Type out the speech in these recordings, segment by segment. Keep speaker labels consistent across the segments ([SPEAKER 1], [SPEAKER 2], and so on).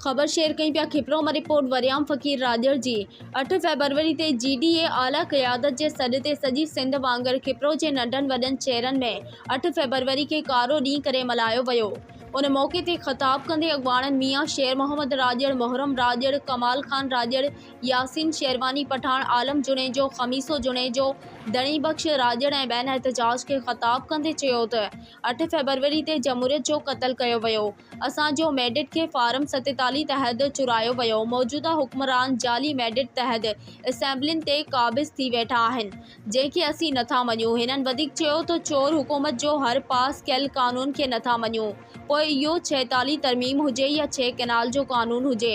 [SPEAKER 1] خبر شيئر ڪيون پيا کپروما رپورٽ وريام فقير راڄڙ جي اٺ فيبروري تي جي ڊي اي اعليٰ قيادت جي سڏ تي سڄي سنڌ وانگر کپرو جي ننڍن وڏن شهرن ۾ اٺ فيبروري کي ڪارو ڏينهن ڪري ملهايو ويو ان موقعي تي خطاب ڪندي اڳواڻن ميان شير محمد راڄڙ محرم راڄڙ ڪمال خان راڄڙ ياسين شيرواني پٺاڻ عالم جوڻيجو خميسو جوڻيجو ڌڻي بخش راڄڙ ۽ ٻين احتجاج کي خطاب ڪندي چيو ته اٺ فيبروري تي جمهوريت جو قتل ڪيو ويو اسان جو ميڊيٽ کي فارم ستيتاليهه تحت چورايو ويو موجوده حڪمران جعلي ميڊيٽ تحت اسيمبلين تي قابض ٿي ويٺا آهن جنهن کي اسين نٿا مڃون هنن وڌيڪ چيو ته چور حڪومت جو هر پاس ڪيل قانون کي نٿا مڃون پوء اهو ڇهيتاليهه ترميم هجي يا ڇهه ڪئنال جو قانون هجي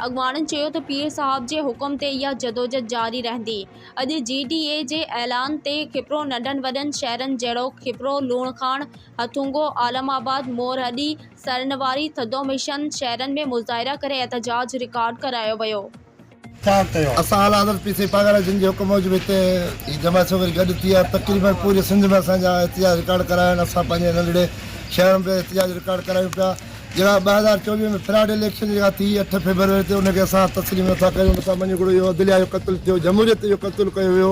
[SPEAKER 1] اڳواڻن چيو ته پير صاحب جي حڪم تي اها جدوجھد جاري رهندي اڄ جي ڊي اي جي اعلان تي کپرو ننڍن وڏن شهرن جهڙوڪ کپرو لوڻ کاڻ هٿونگو، عالم آباد، مورهڏي، سرنواري، ٿڌو مشن شهرن ۾ مظاهرا ڪري احتجاج رڪارڊ ڪرايو ويو.
[SPEAKER 2] اسان اعليٰ حضرت پير سيد پاڳاڻا جن جي حڪم موجب هتي هي جماعت سڀ وري گڏ ٿي ۽ تقريبن پوري سنڌ ۾ اسان جا احتجاج رڪارڊ ڪرايا آهن. اسان پنهنجي ننڍڙي شهر ۾ به احتجاج رڪارڊ ڪرايون پيا. جيڪا ٻه هزار چوويهه ۾ فراڊ اليڪشن جيڪا ٿي اٺ فيبروري تي ان کي اسان تسليم نٿا ڪريون. اسان مڃيو گهرو اهو عدليه جو قتل ٿيو، جمهوريت جو قتل ڪيو ويو.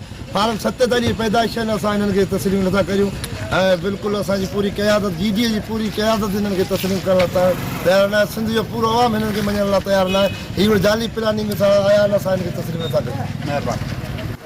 [SPEAKER 2] فارم ستيتاليهه پيدائش آهن اسان هنن کي تسليم نٿا ڪريون ۽ بلڪل اسان جي پوري قيادت جي ڊي اي جي پوري قيادت هنن کي تسليم ڪرڻ لاء تيار ناهي سنڌ جو پورو عوام هنن کي مڃڻ لاء تيار ناهي هي هينئر جعلي پلاننگ سان آيا
[SPEAKER 3] آهن
[SPEAKER 2] اسان هنن کي تسليم نٿا ڪريون مهرباني.